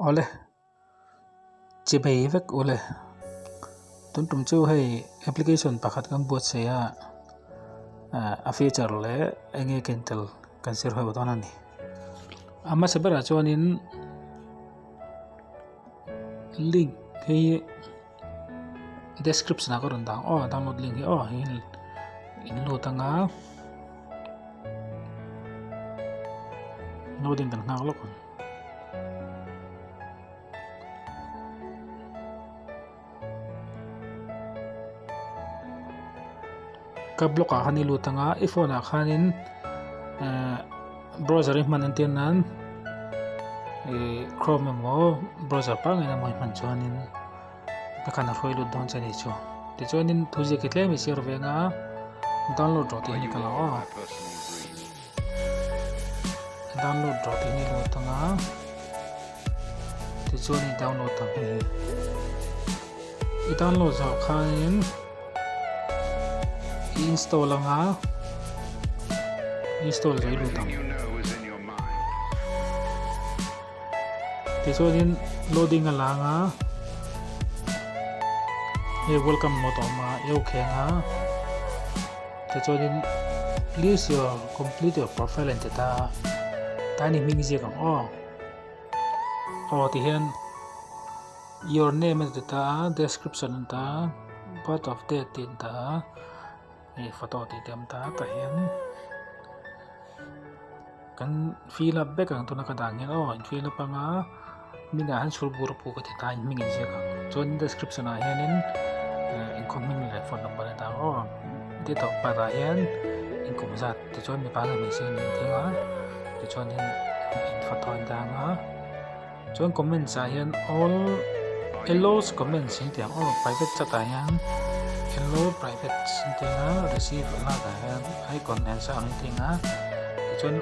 Awle, che phei vek u le. Tun tum chu hei application pakhat kan buatsaih a, ah a feature leh eng nge ken tel kan serho dawn a ni. A hmasa berah chuanin link hi-- description ah ka rawn dan aw download link hi aw heihin in load anga loading kan nghak lawk ang Ka blog ah khan i lut anga i phone ah khanin ehh browser i hman entir nan ehh chrome emaw browser pangain emaw i hman chuanin ka khan a hruai lut dawn che neih chu tichuanin thu ziak hi tlem i share ve anga download rawh tih hi a ni ta lo a. download rah tih nilo atang a tichuan i download tak hi i download zah khanin i install anga install lei lo tang tichuanin loading a langa hei welcome mode awma eu khenga Tichuanin please your complete your profile a inti ta a, tlai ni hming ziak ang aw. Aw tihian your name a inti ta a, description a inti ta a, birth of date tih a inti ta a, hei photo tih a awm ta a tah hian. Kan fill up vek ang tuna ka dan hian aw in fill up anga minah hian chhûr bûr a pu ka ti ta in hming in ziak ang chuan description ah hianin in khaw hming leh phone number a dang aw date of birth ah hian in kum zat tichuan mipa leh hmeichhia a ni ang thil a tichuan in photo a in dang a. Chuan comments ah hian all Ellaw's comments an tih ang aw private chat ah hian Ello private an tih ang a receive lak ah hian icon answer ang tih ang a tichuan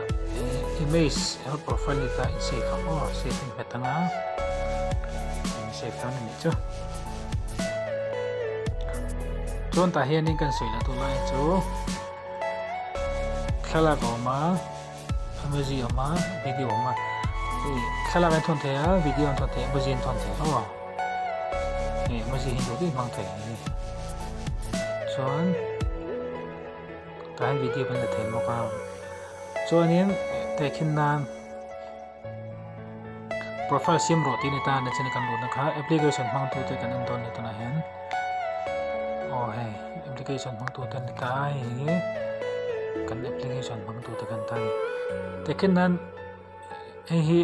image eng profile a tlaiah save ang aw save a ni hmet ang a eng save dan a nih chu chuan tah hian kan sawi la tu lai chu thlalak a awm a Emoji awm a, video awm a. Hei thlalak hi thawn thei a, video an thawn thei a, emoji an thawn thei aw. Hei emoji hi duh duih hmang thei hi. Chuan tlai video kan la thei bawk a. Chuanin tei khin nan Profile siam rawh tiin heta na chen a kan luhna kha application hmangtu te kan en dawn ni tunah hian aw hei application hmangtu te ni ta hei hi kan application hmangtu te kan ta ni takin nan hei hi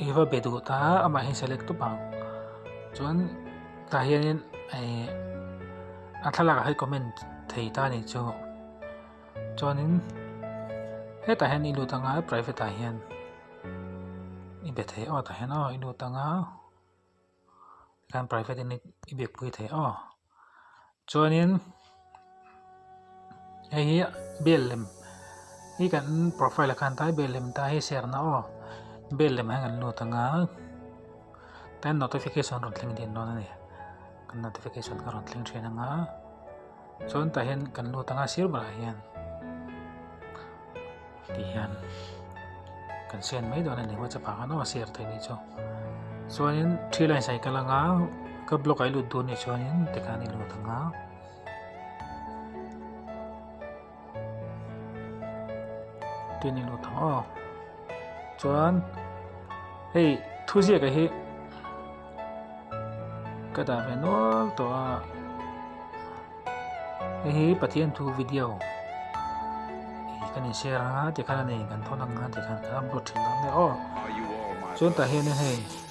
iva bedu ta ama hi select tu bang chuan ta hianin a thlalak hai comment thei ta ni chu Chuanin hetah hian i lut anga private ah hian i be thei aw tah hian aw i lut anga tikhan private in i be pui thei aw chuanin hei hi bel lem hi kan profile ah khan ta hi bel lem ta hi share na aw bel lem ah hian kan lut anga tin notification rawn thleng din dawn a ni kan notification kha rawn thleng thin anga. Chuan tah hian kan lut anga sir berah hian ti hian kan sian mai dawn ani whatsapp ah khan aw a share theih ni chu chuanin three lines ai ka lang a ka block ai lut dawn ni chuanin tikhan i lut ang a. tin in awt ang aw chuan hei thu ziak hi ka dah ve nual tawh a hei hi pathian thu video kan in share ang a tikhan a nei kan thawn ang a tikhan ka upload thin ang a aw chuan tah hian hei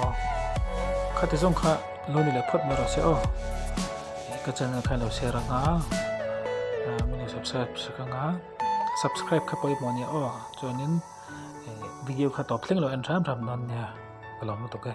aw khati zawng kha lo ni leh phawt mai rang se aw ka channel kha lo share anga minu subscribe sak anga subscribe kha pawimawh ania aw chuanin video kha tawp thleng lo en hram hram dawn nia ka lawm lutuk e.